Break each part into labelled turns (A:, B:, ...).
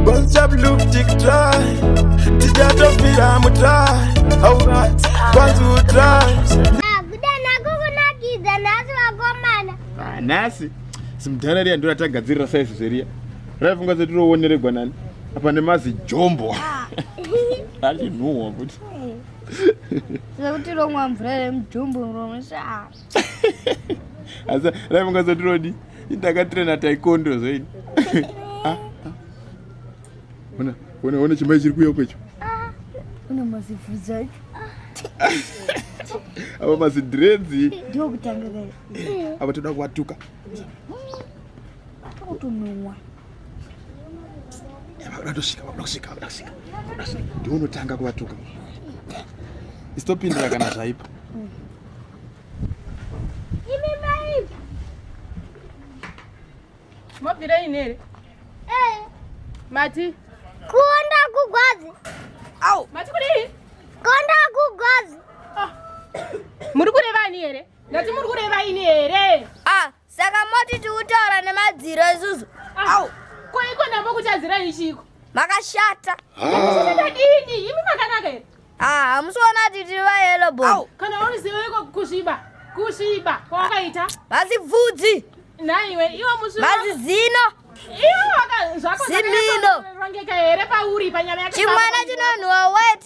A: Bonza blue tick try Tijato fira mu try Alright Kwanzu try Nakuda nakuku nakidza nasi wakomana Ah nasi Simdhara riya ndura tagadzirira size zveria Raifunga zeti rowoneregwa nani Apa nemazi jombo Alinhuwa futi
B: Zekuti romwa mvura remujombo romushaa
A: asi rai mungazotirodi ndakatirena taikondo zvaini ah, ah. ona chimai chiri kuya kwecho ah, une
B: mazivhudza icho
A: ava mazidredzi ndokutanga
B: apa toda
A: kuvatuka
B: kutononwa
A: ndiunotanga kuvatuka isitopindira kana zvaipa
C: mobvirei nere eh. mati kuonda
B: kugwazi au mati
C: kudii kuonda
B: kugwazi ah.
C: muri kureva ani here ndati muri kureva ini here ah. Saka
B: moti tiutaura nemadziro isusu. Au, ko
C: iko navo kutadzira ichiko. Makashata.
B: Makashata
C: dini? Imi makanaka here? Ah, hamusiona kuti
B: tiri vayelo bo. Au, kana uri zivo iko
C: kusviba. Kusviba kwawakaita. Basi bvudzi.
B: Naiwe,
C: iwo musviba. Basi zino.
B: Iwo waka
C: zvako. Zimino.
B: Rongeka here
C: pauri panyama yako. Chimwana chinonhuwa
B: wet.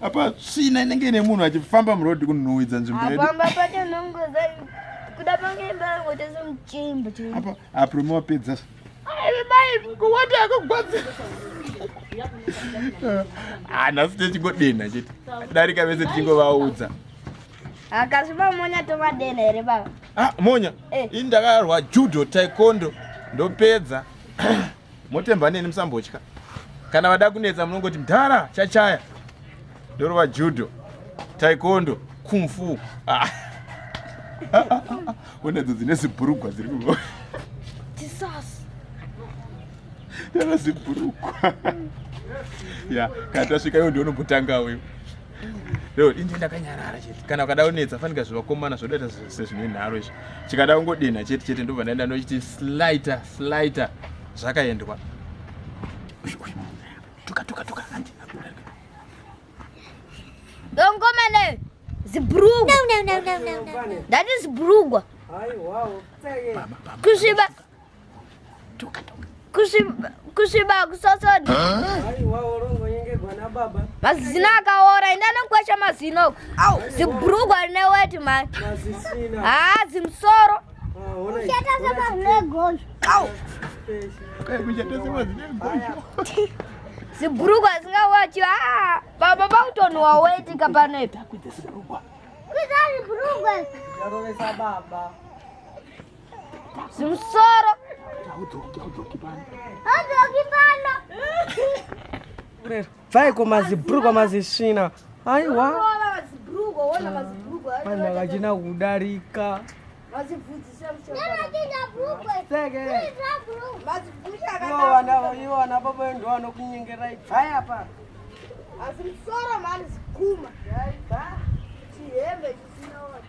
A: apa tsvina inenge ine munhu achifamba muroad kunhuhwidza nzvimbo yedu apamba pacho nongoza
B: kuda pange mbangoita semuchimbo chii apa aprome
A: wapedza
C: kuwati akugwadza
A: hanhasi techingodenha chete darika vese tichingovaudza
B: akasviba monya tovadenha here baba ah, monya
A: Eh. ini ndakarwa judo taekwondo ndopedza motemba neni musambotya kana vada kunetsa munongoti mdhara chachaya ndorova judo taikondo kumfu ah. unedzo dzine zibhurugwa dziri kuvo tana zibhurugwa ya kana tasvika iyo ndionombotanga uyo Leo ini ndakanyarara chete. Kana ukada unetsa fanika zvivakomana zvodaita sezvine nharo izvi. Chikada ungodena chete chete ndobva ndaenda ndochiti slighter slighter zvakaendwa. Tuka tuka tuka hanti.
B: Dongomene zibrugwa. No no no no no. That is brugwa. Kusviba kusviba kusosodha mazino akaora enda nokukwesha mazino au zibrugwa rine weti mani haa zimsoro zibrugwa zingawachi haa baba vakutonhuwa weti kapanoipa Zimusoro. Haudoki, haudoki pano. Haudoki pano.
D: Bvai kumazibhurugwa mazisvina. Aiwa. Vanhu vakachina kudarika. Iwana baba ndo vanokunyengerai. Bvai apa. Asi
B: musoro mani zikuma. Bvai. Chihembe chisina wati.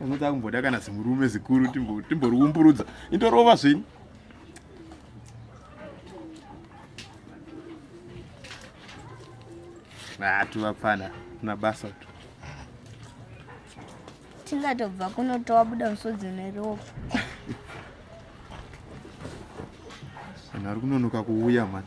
A: anoda kumboda kana zimurume zikuru timboriumburudza indorova zvenyu atu vapfana na basa tu
B: tingatobva kunotowa buda musodzi neropa
A: vanhu vari kunonoka kuuya mani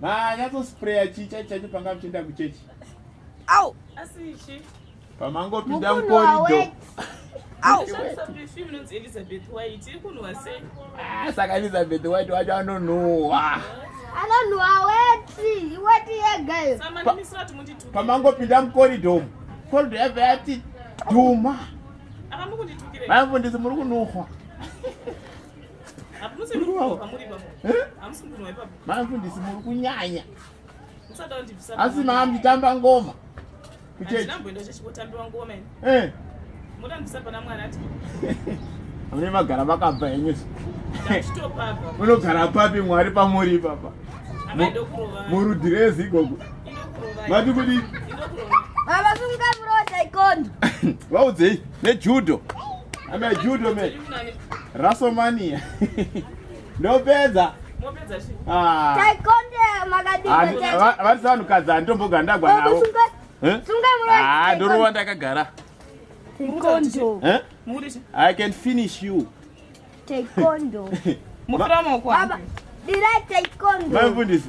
C: Manyatsospray
A: chii chaicho chaicho panga muchienda kuchechi? Au!
B: Asi ichi.
C: Pamangopinda
A: mukorido. Au!
C: Elizabeth White iri kunhuwa sei? Ah, saka Elizabeth
A: White wacho anonhuwa. Anonhuwa
B: weti, weti yega iyo. Samanimisira timuti
C: tu. Pamangopinda mukorido.
A: Korido yabva yati dhuma. Ava
C: mukunditukira. Vamfundisi muri
A: kunhuwa.
C: mamfundisi muri kunyanya asi maambitamba
A: ngoma mune magara makabva henyu
C: unogara papi
A: mwari pamuri ipapa
C: murudhi rezi
A: igogo mati
C: kudi
B: vaudzei
A: nejudo ame judo me rasomania ndopedza
C: ah.
B: vatisa vanhukadzi
A: handitomboga ndagwa navo eh?
B: ah, ndorova ndakagara eh?
C: i can finish you
B: mufundisi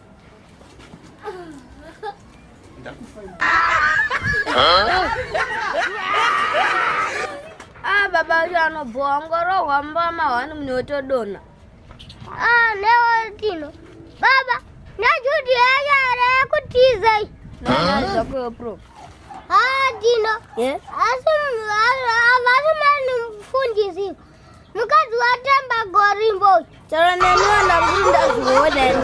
B: Ah, baba wacho anobhowa ngorohwa mbama wani mune wotodona ah, newotino
E: baba najuti yacho are kutiza
B: zvakoyopro ah, tino
E: asi vasi mani mufundisi mukadzi
B: watamba
E: gorimbo
B: chero neni
E: vana kuti
B: ndazviwodani